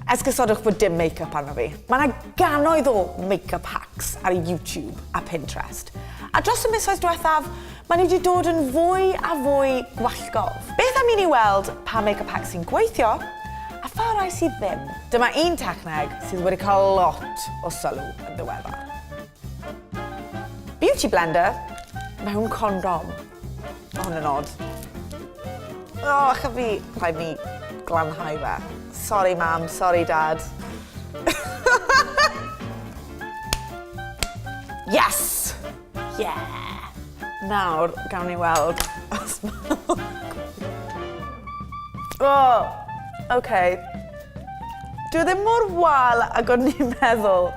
Esgusodwch bod dim make-up arno fi. Mae yna ganoedd o make-up hacks ar YouTube a Pinterest. A dros y misoedd diwethaf, maen nhw wedi dod yn fwy a fwy gwallgol. Beth am i ni weld pa make-up hacks sy'n gweithio a pha rai sydd ddim? Dyma un techneg sydd wedi cael lot o sylw yn ddiweddar. Beauty blender mewn condom. Mae hwn yn od. O, ych fi, rhaid mi glanhau fe. Sorry mam, sorry dad. yes! Yeah! Nawr, gawn ni weld os Oh, okay. Dwi ddim mor wal ag o'n i'n meddwl.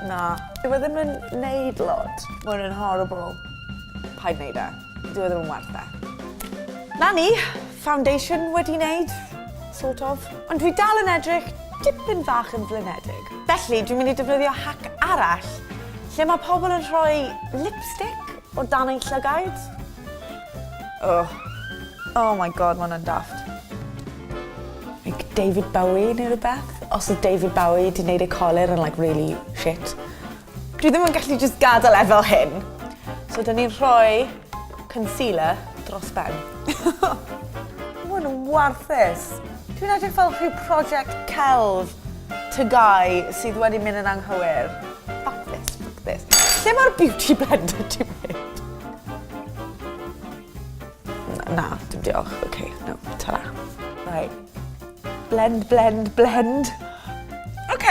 Na. Dyw e ddim yn neud lot. Mae hwn yn horrible. Paid neud e. Dyw e ddim yn werth e. Na ni, foundation wedi neud, sort of. Ond dwi dal yn edrych dipyn fach yn flinedig. Felly, dwi'n mynd i defnyddio hack arall, lle mae pobl yn rhoi lipstick o dan eu llygaid. Oh. Oh my god, mae hwnna'n daft. Like David Bowie neu rwbeth. Os odd David Bowie 'di neud ei colur yn like rili shit. Dwi ddim yn gallu jyst gadel e fel hyn. So 'dyn ni'n rhoi concealer dros ben. Ma' hwn yn warthus. Dwi'n edrych fel rhyw project celf tygau sydd wedi mynd yn anghywir. Fuck this, fuck this. Lle ma'r beauty blender 'di mynd? Na, dim diolch. OK, no, ta-ra. Right. Blend, blend, blend. OK.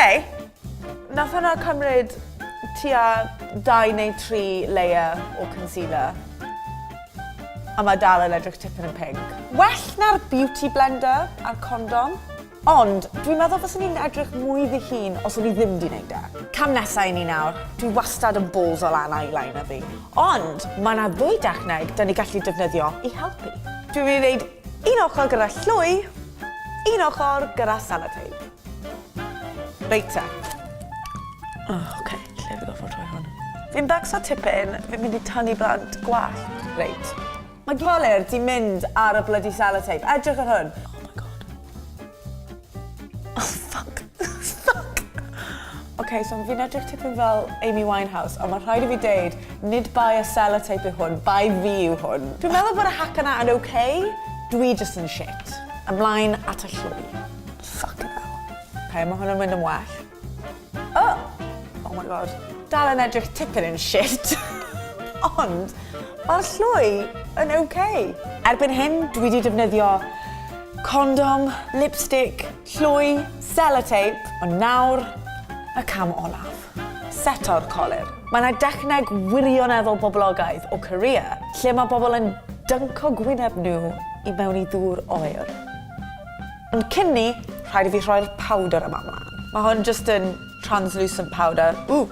Nath hwnna cymryd tua dau neu tri layer o concealer. A mae dal yn edrych tipyn yn pink. Well na'r beauty blender a'r condom. Ond, dwi'n meddwl fyswn i'n edrych mwy fy hun os o'n i ddim di wneud e. Cam nesa i ni nawr, dwi wastad yn balls o lan eyeliner fi, ond mae na ddwy dechneg da ni gallu defnyddio i helpu. Dwi'n mynd i wneud un ochr gyda llwy, un ochr gyda sellotape. Reit te. O, oce, lle fi gorfod rhoi hwn? Fi'n becso tipyn, fi'n mynd i tynnu blant gwallt. Reit. Mae Colur di mynd ar y bloody sellotape. Edrych ar hwn. Oh my god. Oh fuck. fuck. Ok, so fi'n edrych tipyn fel Amy Winehouse, ond mae rhaid i fi deud, nid bai y sellotape yw hwn, bai fi yw hwn. Dwi'n meddwl bod y hack yna yn ok, dwi just yn shit. Ymlaen at y llwy. Fucking hell. Ok, mae hwn yn mynd yn well. Oh! Oh my god. Dal yn edrych tipyn yn shit. Ond, mae'r llwy yn ok. Erbyn hyn, dwi wedi defnyddio condom, lipstick, llwy, sellotape, ond nawr, y cam olaf. Seto'r colur. Mae yna dechneg wirioneddol boblogaidd o Korea lle mae bobl yn dynco gwyneb nhw i mewn i ddŵr oer. Ond cyn 'ny, rhaid i fi rhoi'r powder yma mlaen. Mae hwn just yn translucent powder. Ww!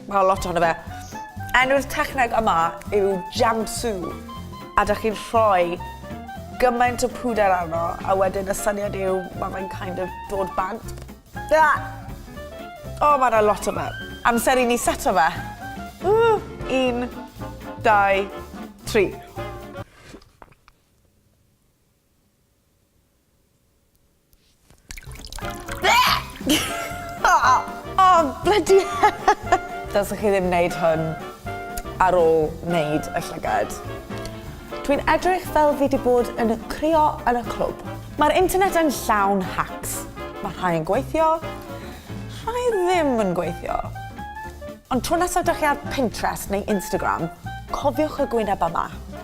Mae lot ohono fe. Enw'r techneg yma yw jamsu. A da chi'n rhoi gymaint o pwder arno, a wedyn y syniad yw, mae fe'n kind of dod bant. Da! O, mae yna lot o fe. Amser i ni seto fe. Ww! Un, dau, tri. oh, bloody Dylsech chi ddim wneud hwn ar ôl wneud y llygad. Dwi'n edrych fel fi wedi bod yn crio yn y clwb. Mae'r internet yn llawn hacks. Mae rhai yn gweithio, rhai ddim yn gweithio. Ond tro nesaf ydych chi ar Pinterest neu Instagram, cofiwch y gwyneb yma.